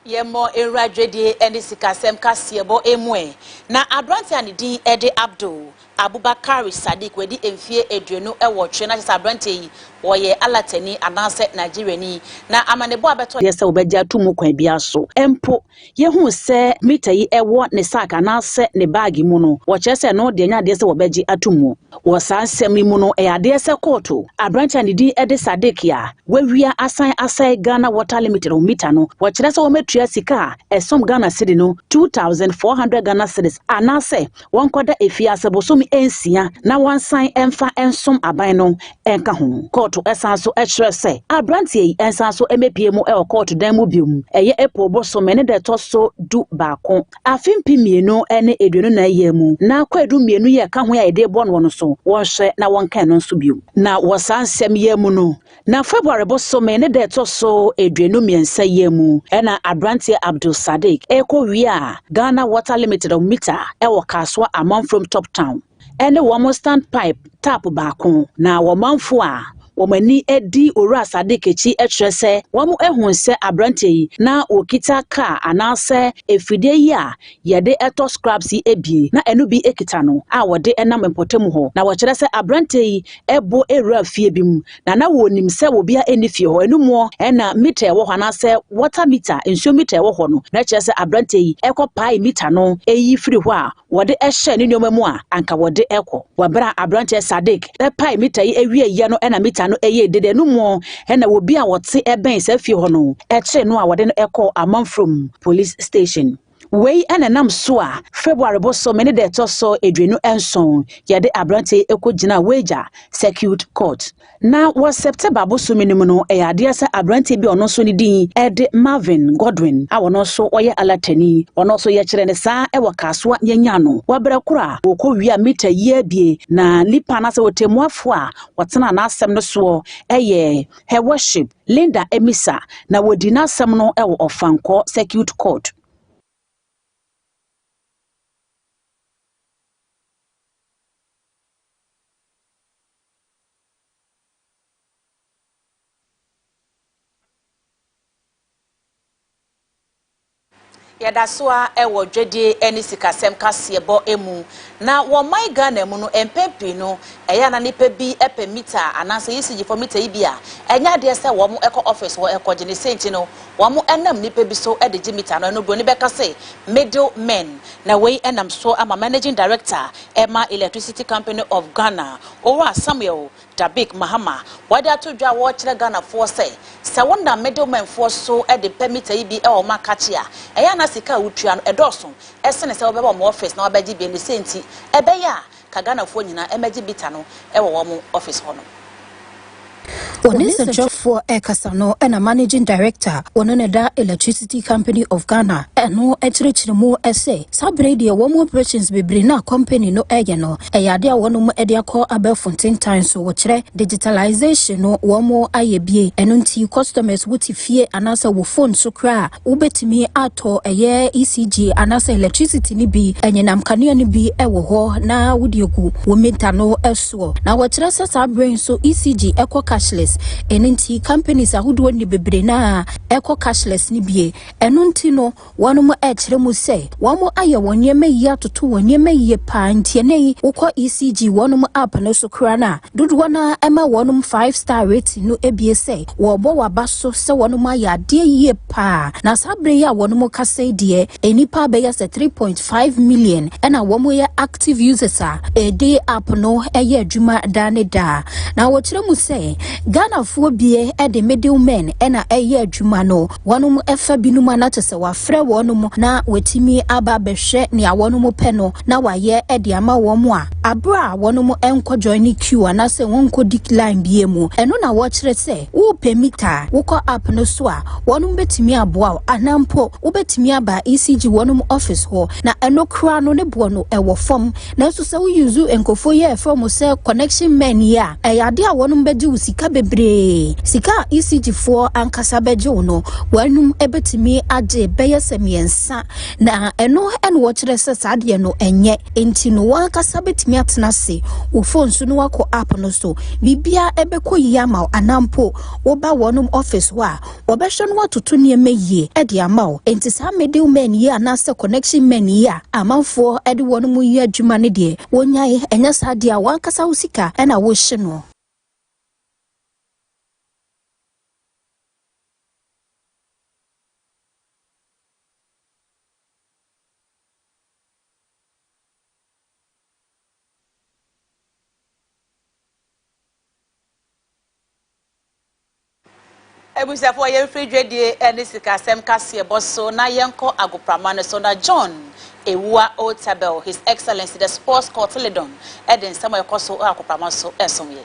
A: Yɛmmɔ nwura dwadie ne sikasɛm kaseɛbɔ mu ɛ. Na aberanteɛ a ne din de Abdul Abubakari Sadiq wadi mfeɛ aduonu nwɔtwe na kyerɛ sɛ aberanteɛ yi ɔyɛ Alatani anaasɛ Nigeriani. Na amanebɔ a ɛbɛtɔ yɛ sɛ wɔbɛgye ato mu
J: kwan biara so. Mpo yɛhuu sɛ mita yi wɔ ne sack anaasɛ ne baage mu no, wɔkyerɛ sɛ ɛno deɛ ɛnyɛ adeɛ sɛ wɔbɛgye ato mu. Wɔ saa nsɛm yi mu no, ɛyɛ adeɛ sɛ kɔɔto aberanteɛ a ne din de Sadiq a wawia asan asɛe Ghana Water Limited ho mita no, wɔkyerɛ sɛ wɔmɛtua sika a ɛsom Ghana Cedi no two thousand four hundred Ghana Cedis anaasɛ wɔnkɔda efie ase bosome nsia na wɔnsan mfa nsom aban no nka ho. Kɔɔto san so kyerɛ sɛ aberanteɛ yi nsan so mmɛpue mu wɔ kɔɔto dan mu biom, ɛyɛ April bosome ne da ɛtɔ so du baako Afe mpem mmienu ne aduonu nnan yɛɛ mu, na kwaadu mmienu yɛɛ ka ho a yɛde rebɔ noɔ no so, wɔnhwɛ na wɔnka ɛno nso bio. Na wɔ saa nsɛm yɛɛ mu no, na February bosome ne da a ɛtɔ so aduonu mmiɛnsa yɛɛ mu na aberanteɛ Abdul Sadiq rekɔ wia Ghana Water Limited of Mita wɔ Kasoa Amanfurom Top Town, ne wɔn standpipe tap baako, na wɔn manfo a wɔn ani di Owura Sadiq akyi kyerɛ sɛ wɔahu sɛ aberante yi na okita kaa anaasɛ afidie yi a yɛde tɔ scraps yi abien na ɛno bi kita no a wɔde nam mpɔtam hɔ. Na wɔkyerɛ sɛ aberante yi bɔ wura fie bi mu na na wɔnim sɛ obiara nni fie hɔ. Ɛno mu na mita ɛwɔ hɔ anaasɛ water mita, nsuo mita ɛwɔ hɔ no. Na kyerɛ sɛ aberante yi kɔpae mita no yi firi hɔ a wɔde hyɛɛ ne nneɛma mu a anka wɔde kɔ. Wɔ bere a aberanteɛ Sadiq pae mita yi awieeɛ no na mita no yɛɛ dede no mu na obi a ɔte bɛn saa fie hɔ no kyeree no a wɔde no kɔɔ Amanfrom Police Station. Wei na ɛnam so a February bosome ne da ɛtɔ so aduonu nson yɛde aberanteɛ yi kɔgyinaa Weija Circuit Court. Na wɔ September bosome no mu no, ɛyɛ adeɛ sɛ aberanteɛ bi a ɔno nso ne din de Marvin Godwin a ɔno nso ɔyɛ Alatani. Ɔno nso yɛkyerɛ ne saa wɔ Kasoa yɛnyaa no wɔ berɛ korɔ a ɔkɔ wia mita yie abie na nipa no asɛ ɔtɛmmuafoɔ a ɔtenaa n'asɛm no soɔ yɛ Her Worship Linda Amisa na wɔdii n'asɛm no wɔ Ɔfankɔ Circuit Court.
A: Yɛda so ara wɔ dwadie ne sikasɛm kaseɛbɔ mu. Na wɔ ɔman Ghana mu no, mpɛn pii no, ɛyɛ a na nnipa bi pɛ mita anaasɛ ECG fam mita yi bi a, ɛnyɛ adeɛ sɛ wɔkɔ office hɔ kɔgye. Ne sɛ nti no, wɔnam nnipa bi so de gye mita no. Ɛno buroni bɛka sɛ middle men. Na wei nam so ama Managing Director ma Electricity Company of Ghana, Owura Samuel Dabic Mahama, wɔde ato dwa a wɔrekyerɛ Ghanafoɔ sɛ, sɛ wonam middlemen foɔ so de pɛ mita yi bi wɔ wɔn akakye a, ɛyɛ a na sika a wotua no dɔɔso sene sɛ wobɛba wɔn office na wabɛgye bi, ɛno sɛ nti ɛbɛyɛ a ka Ghanafoɔ nyinaa mmɛgye bita no wɔ wɔn office hɔ nom.
B: Wɔ ne nsɛnkyerɛfoɔ rekasa no na Managing Director wɔ no ne da Electricity Company of Ghana no kyerɛkyerɛ mu sɛ saa berɛ yi deɛ wɔn operations bebree no a company no reyɛ no yɛ adeɛ a wɔnom de akɔ abɛɛfo ntentan so wɔkyerɛ digitalization no wɔn ayɛ bie ɛno nti customers wote fie anaasɛ wo phone so koraa wobɛtumi atɔ ɛyɛ ECG anaasɛ electricity no bi anyinam kanea no bi wɔ hɔ na wode agu wo meter no so. soɔ. Na wɔkyerɛ sɛ saa berɛ yi nso ECG kɔ cashless, ɛno nti companies ahodoɔ nni bebree no a ɛkɔ cashless no bie. Ɛno nti no wɔnom ɛkyerɛ mu sɛ wɔn ayɛ wɔn nneɛma yie atoto wɔn nneɛma yie paa nti ɛnnɛ yi wokɔ ECG wɔnom app no so koraa no a dodoɔ no ara ɛma wɔnom five star rating no bie sɛ wɔrebɔ wɔn aba so sɛ wɔnom ayɛ adeɛ yie paa. Na saa berɛ yi a wɔnom kasa yi deɛ nnipa bɛyɛ sɛ three point five million ɛna wɔyɛ active. Active users a ɛde app no yɛ adwuma daa ne daa, na wɔkyerɛ mu sɛ Ghanafoɔ bie de middle men na ɛyɛ adwuma no. Wɔnom fa binom a na kyɛ sɛ wɔafrɛ wɔnom na wɔatumi aba abɛhwɛ nea wɔnom pɛ no na wɔayɛ de ama wɔn a, aberɛ a wɔnom nkɔ joine queue anaasɛ wɔnkɔdi line biara mu. Ɛno na wɔkyerɛ sɛ Wopɛ mita a, wokɔ app no so a, wɔnom bɛtumi aboa wo anaa mpo wobɛtumi aba ECG wɔnom office hɔ na ɛno koraa no ne boɔ no ɛwɔ fam. Nanso sɛ wo use nkorɔfoɔ yi a yɛfrɛ wɔn sɛ connection men yi a, ɛyɛ adeɛ a wɔnom bɛgye wo sika bebree. Sika a ECG foɔ ankasa bɛgye wo no, wɔnom bɛtumi agye bɛyɛ sɛ mmiɛnsa. Na ɛno na wɔkyerɛ sɛ saa deɛ no ɛnyɛ nti no wankasa bɛtumi atena ase wɔ phone so no wakɔ app no so bibia ɛbɛkɔ yie ama wo anampo woba wɔnom office hɔ a wɔbɛhwɛ no watoto nneɛma yie ɛde ama wo nti saa middle men yi anaasɛ connection men yi a amanfoɔ ɛde wɔnom yi adwuma no deɛ wɔnyae ɛnyɛ saa deɛ a wankasa wo sika ɛna wohye no
A: Abusuafoɔ yɛmfiri dwadie ne sikasɛm kaseɛbɔ so na yɛnkɔ agoprama no so na John Awuah Otabil, His Excellency the Sports Cotyledon, de nsɛm a ɛkɔ so wɔ agoprama so resom yɛn.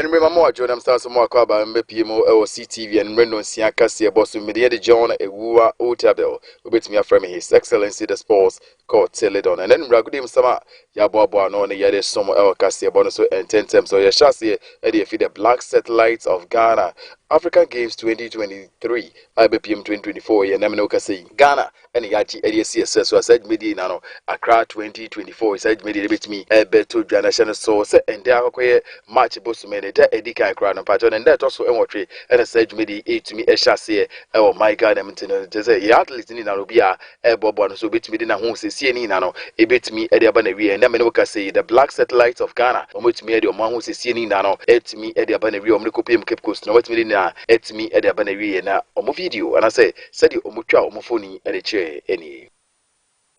O: Anwummere ma mo adwo nam san so mo akɔ aba mbɛpie mu ɛwɔ CTV anwummere nonsia kaseɛ bɔ so mmedi ɛde John Ewuwa Otabil wobɛtumi afrɛ me His Excellency the Sports Cotiledon ɛnɛ anwummere agodie mu sama yɛaboaboa ano ne yɛde som ɛwɔ kaseɛ bɔ no so ɛntɛntɛm so yɛhyɛ aseɛ ɛde afi the Black Satellites of Ghana African Games 2023 a ɛbɛpie mu 2024 yɛnam ne wokasɛ yi Ghana ɛna yɛagye ɛde asi ɛsɛ so a saa dwumadie nyinaa no akra 2024 saa dwumadie no bɛtumi ɛbɛto dwa no hyɛ no so sɛ ɛndɛ akɔkɔyɛ march bosome no da ɛdi kan koraa no mpakyɛ no ɛndɛ ɛtɔ so ɛnwɔtwe ɛna saa dwumadie ɛtumi ɛhyɛ aseɛ ɛwɔ my ghana mu nti no kyɛ sɛ yɛ athlete no nyinaa no obi a ɛbɔboa no so obɛtumi de n'aho sɛsie no nyinaa no ɛbɛtumi ɛde aba na wie ɛndɛ mene woka sɛ the black satellites of ghana wɔmɛtumi ɛde ɔmo aho sɛsie no nyinaa no ɛtumi ɛde aba na wie ɔmo de kɔpem cape coast na wɔatumi de nyinaa ɛtumi ɛde aba na wie na ɔmo video anasɛ Sɛdeɛ wɔtwaa wɔn mfoni de kyerɛeɛ nie.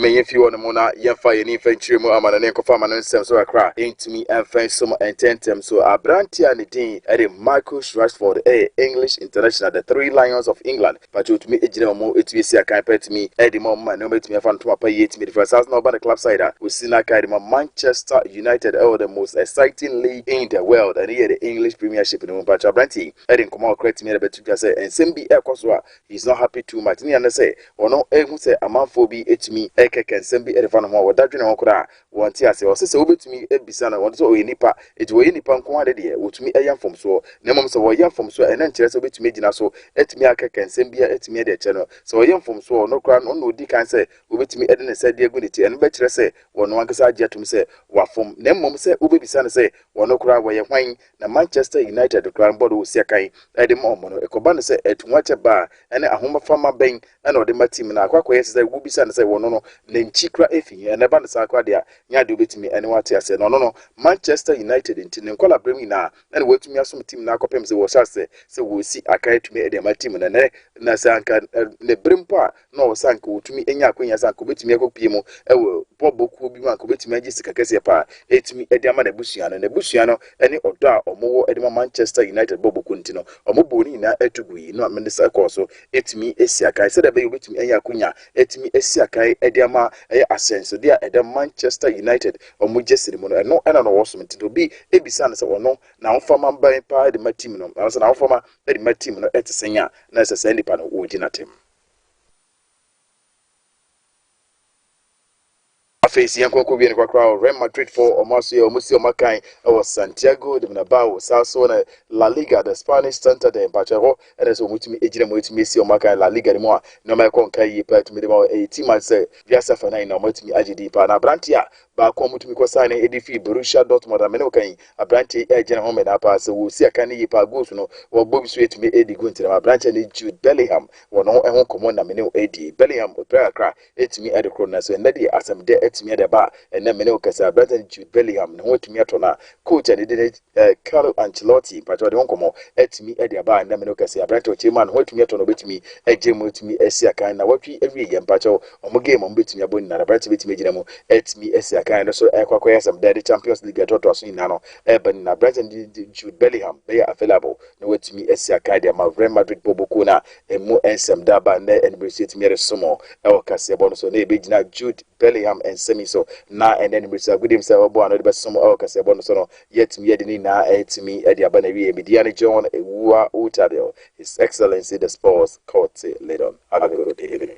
O: Ɛnneɛ yɛmfiri hɔ nom na yɛmfa yɛn ani mfa nkyerɛ mu amanɔne nkɔfa amanɔne nsɛm so kakra. Ɛntumi mfa nsom ntɛmntɛm so. Aberanteɛ a ne din de Marcus Rashford yɛ English international, The Three Lions of England pakyɛ ɔtumi gyina mu tumi si akan pa tumi de ma wɔn ma nneɛma tumi fa no tom apa yie tumi de firi asaase na ɔba ne club side a ɔsi n'akan de ma Manchester United ɛwɔ the most exciting league in the world ɛne yɛ the English Premiership no mu. Mpakyɛ aberanteɛ yi de nkɔmmɔ kakra tumi de bɛto Kyerɛ sɛ nsɛm bi ɛkɔ so a he is not happy too much ne ane sɛ ɔno ɛhu sɛ amanfoɔ bi ɛtumi ɛkɛkɛ nsɛm bi ɛdefa ne ho a wɔda dwene ho koraa a wɔnte aseɛ. Ɔse sɛ wobɛtumi abisa no wɔde sɛ ɔyɛ nipa enti wɔyɛ nipa nko ara ne deɛ wɔtumi ɛyɛ mfomsoɔ na mmom sɛ wɔyɛ mfomsoɔ a ɛno nkyerɛ sɛ wobɛtumi agyina so atumi akɛkɛ nsɛm bi a atumi ɛde akyerɛ no sɛ ɔyɛ mfomsoɔ ɔno koraa no ɔno na ɔdi kan sɛ wɔbɛtumi ɛde ne nsa de agu ne ti ɛno bɛkyerɛ sɛ ɔno ankasa agye atom sɛ wafom na mmom sɛ wobɛbisa no sɛ ɔno koraa wɔyɛ hwan Na Manchester United koraa no bɔɔl no wɔ siakan de ma wɔn no, ɛkɔba no sɛ atuhoakyɛ ba a ɛne ahomaframa bɛn na ɔde ma team no a akɔ akɔyɛ te sɛ wobisa no sɛ wɔno no ne nkyi koraa efi he na ɛba no saa koraa de a nyɛ adeɛ obetumi ɛne wɔate aseɛ na ɔno no Manchester United nti ne nkɔlaberem nyinaa ɛne wɔatumi asom team no akɔpem sɛ wɔhyɛ aseɛ sɛ wɔresi akan atumi de ama team no nɛ na sɛ anka ne bere mpo a na ɔwɔ sɛ anka ɔtumi anya akwanya sɛ anka ɔbɛtumi akɔpue mu wɔ bɔbɔ kuo bi mu, anka ɔbɛtumi agye sika kɛseɛ paa ɛtumi de ama n'abusua no. N'abusua no ne ɔdɔ a wɔwɔ de ma Manchester United bɔbɔ kuo nti no, wɔbɔɔ ne nyinaa to gui na Mensah kɔɔ so tumi si akan sɛdeɛ ɛbɛyɛ ɔbɛtumi anya akwanya atumi asi akan de ama ɛyɛ asɛnsodeɛ a ɛda Manchester United wɔn gyesi no mu no, ɛno na na ɔwɔ som nti na obi bisa no sɛ ɔno n'ahofama bɛn paa de ma team no, anaasɛ n'ahofama de ma team no te sɛn a, na ɛsɛ saa nipa no ɔgye n'atɛm. Afei si yɛn kɔkɔ wie no korakora wɔ Real Madrid fo wɔn aso yɛ wɔn si wɔn akan wɔ Santiago de Bernabeu saa so na La Liga the Spanish Santander mpakyɛ hɔ ɛna sɛ wɔn tumi egyina mu etumi esi wɔn akan La Liga no mu a nneɛma ɛkɔ nka yie paa etumi de ma ɛyɛ team a sɛ wiase afa nan na wɔn atumi agye din paa na aberante a Baako a mutumi kɔ signee edi fii Borussia Dortmund a me ne wo ka yi, aberante yi gyina hɔ mena paa. Sɛ wosi akan no yie paa, goals no wɔbɔ bi so etumi edi gu nti dɛm aberante no Jude Bellingham wɔ ne ho ɛho nkɔmmɔ na me ne wo edi. Bellingham ɔpira kakra etumi ɛde koro nanso ɛnnɛ deɛ asɛm dɛ etumi ɛde ba a ɛnnɛ me ne wo kasa aberante no Jude Bellingham ne ho etumi atɔ no a Coach a ne din ne Carlo Ancelotti, mpakyɛ ɔde ho nkɔmmɔ atumi de aba nnɛ mene kɛse aberante ɔkyerɛ mu a ne ho atumi atɔ no ɔbɛtumi agye mu atumi asi akan na watwi awie yɛ mpakyɛ ɔmo game ɔmo bɛtumi abɔ nyinaa aberante bɛtumi agyina mu atumi asi akan no so ɛkɔ akɔyɛ asɛm dɛ de Champions League ɛtoatoa so nyinaa no ɛba nyinaa aberante no de Jude Bellingham bɛyɛ available na watumi asi akan de ama Real Madrid bɔbɔkuo no a ɛmu nsɛm da aba nnɛ ɛne bɛrɛ so atumi ɛresom ɛwɔ kaseɛbɔ no so na ɛbɛgyina Jude Bellingham nsɛm yi so, na ɛnnɛ no mmirisa agude mu sɛ ɔbɛboa ano de bɛsom wɔ kaseɛbɔ no so no, yɛatumi de ne nyinaa atumi de aba n'awiei. Me din ne John Ewuwa Utadil, His Excellency the Sports Cote Ledon. Have a good evening.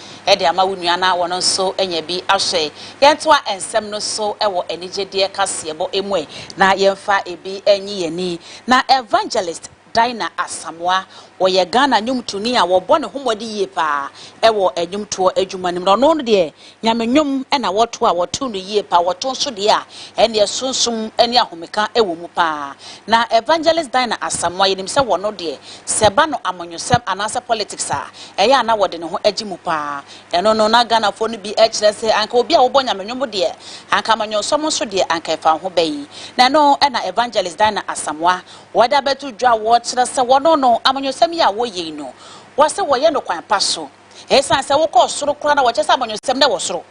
A: de ama wo nua na wɔn nso anya bi ahwɛ. Yɛntoa nsɛm no so wɔ anigyedeɛ kaseɛbɔ mu ɛ na yɛmfa ebi nyi yɛn ani. Na Evangelist Dinah Asamoah, ɔyɛ Ghana nnwomtoni a wɔbɔ ne ho mmɔden yie paa wɔ nnwomtoɔ adwuma no mu. Na ɔno deɛ Nyame nnwom na wɔto a wɔto no yie paa, wɔto nso deɛ a ɛnneɛ sunsum ne ahomeka wɔ mu paa. Na Evangelist Dinah Asamoah, yɛnim sɛ wɔno deɛ Sɛ ɛba no amanyɔsɛm anaasɛ politics a, ɛyɛ a na wɔde ne ho agye mu paa. Ɛno no, na Ghanafoɔ no bi kyerɛ sɛ anka obi a wɔbɔ Nyame nnwom deɛ, anka amanyɔsɛm nso deɛ, anka ɛfa wo ho bɛn. Na ɛno na Evangelist Dinah Asamoah, wɔde abɛto dwa a wɔkyerɛ sɛ wɔno no, amanyɔsɛm yi a wɔyɛ yi no, wɔse wɔyɛ no kwan pa so. Ɛsiane sɛ wokɔ soro koraa na wɔkyerɛ sɛ amanyɔsɛm na ɛwɔ soro.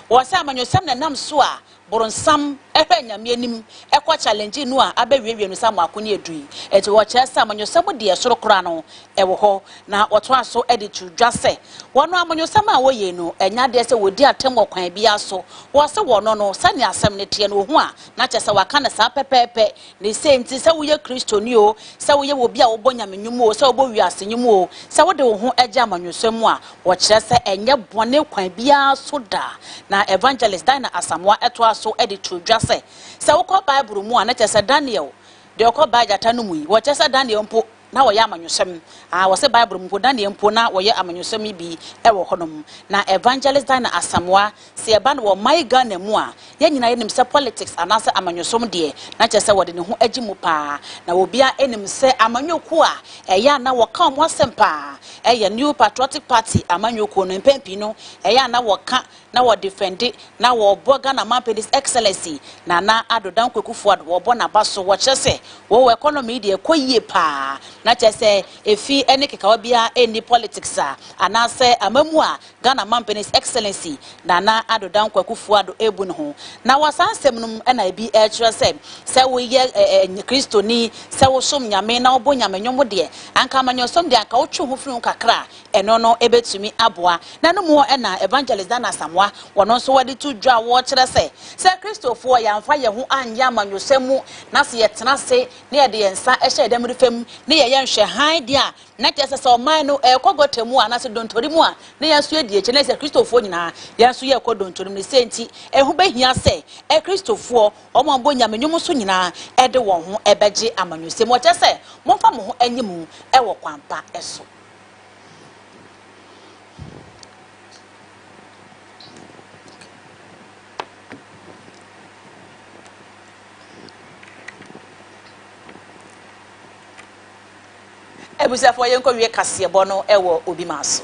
A: Wɔse amanyɔsɛm na ɛnam so a Boronsam hwɛ anyame anim kɔ challenge nu a abɛ wie wie no sa mo ako ne aduru yi nti wɔ kyerɛ sɛ amanyɔsɛm mu deɛ ɛsoro kora no ɛwɔ hɔ na wɔ toa so de to dwa sɛ wɔ no amanyɔsɛm a wɔ yei no ɛnyɛ adeɛ sɛ wɔ di atem wɔ kwan biara so wɔ se wɔ no no sɛnea asɛm no teɛ no wɔ hu a na kyerɛ sɛ wɔ aka no saa pɛpɛɛpɛ Ne sei nti, sɛ woyɛ Kristoni oo, sɛ woyɛ obi a wobɔ Nyame nnwom oo, sɛ wobɔ wiase nnwom oo, sɛ wode wo ho gye amanyɔsɛm mu a, wɔkyerɛ sɛ ɛnyɛ bɔne kwan biara so da. Na Evangelist Dinah Asamoah toa so de too dwa sɛ, Sɛ wokɔ Bible mu a, na kyerɛ sɛ Daniel deɛ ɔkɔbaa gyata no mu yi, wɔkyerɛ sɛ Daniel mpo, na wɔyɛ amanyɔsɛm. Aah, wɔse Bible mu mpo, na neɛ mpo na wɔyɛ amanyɔsɛm yi bi wɔ hɔ nom. Na Evangelist Dinah Asamoah, se ɛba no wɔ my Ghana mu a, yɛn nyinaa yɛnim sɛ politics anaasɛ amanyɔsɛm deɛ, na kyerɛ sɛ wɔde ne ho agye mu paa. Na obiara nim sɛ amanyɔkuo a ɛyɛ a na wɔka wɔn asɛm paa yɛ New Patriotic Party amanyɔkuo no. Mpɛn pii no, ɛyɛ a na wɔka na wɔ defende na wɔ bɔ Ghana manpɛ this excellency Nana Addo Dankwa Aku Fuad wɔ bɔ naba so wɔ kyerɛ sɛ wɔ wɔ economy yi deɛ ɛkɔ yie paa na kyerɛ sɛ efi ɛne kekawa biara ɛnni politics a anaa sɛ ama mu a Ghana manpɛ this excellency Nana Addo Dankwa Aku Fuad ɛbu ne ho na wɔ saa nsɛm no mu ɛna ebi ɛkyerɛ sɛ sɛ wo yɛ ɛɛ kristoni sɛ wo som nyame na wo bɔ nyame nwomo deɛ anka amanyɔsɔm deɛ anka wo twe wo ho firi ho kakra Ɛno no ɛbɛtumi aboa. Na no mu hɔ na Evangelist Dan Asamoah, wɔn nso wɔde to dwa a wɔkyerɛ sɛ, sɛ Kristofoɔ yɛamfa yɛn ho anyɛ amanyɔsɛm mu na sɛ yɛtena ase na yɛde yɛn nsa hyɛ yɛn anifɛ mu na yɛyɛ nhwɛhan deɛ a, na kyerɛ sɛ sɛ ɔman no ɛrekɔ gɔta mu a anaasɛ dontori mu a, na yɛn nso yɛdi akyire. Na sɛ Kristofoɔ nyinaa yɛn nso yɛrekɔ dontori mu no, sei nti ɛho bɛhia sɛ Kristofoɔ wɔn a wɔbɔ Nyame nnwom nso nyinaa de wɔn ho bɛgye amanyɔsɛm mu. Wɔkyerɛ sɛ, momfa mo ho nyi mu wɔ kwan pa so. Abusuafoɔ yɛnkɔ wie kaseɛbɔ no wɔ obi maa so.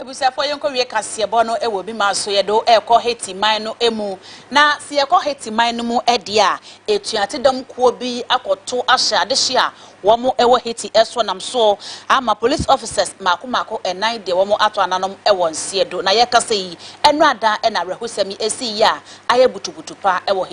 A: Ebusuafo yɛnkɔwie kaseɛbɔ no wɔ bi ma so yɛdo ɛkɔ Haiti man no mu na se yɛkɔ Haiti man no mu deɛ a atuate dɔm kuo bi akɔto ahyɛ adehye a wɔn wɔ Haiti so nam so ama police officers maako maako nan deɛ wɔn ato ananom wɔ nseɛ do na yɛkasa yi ɛno adaa na awerɛhosɛm yi esii yi a ayɛ butubutu paa wɔ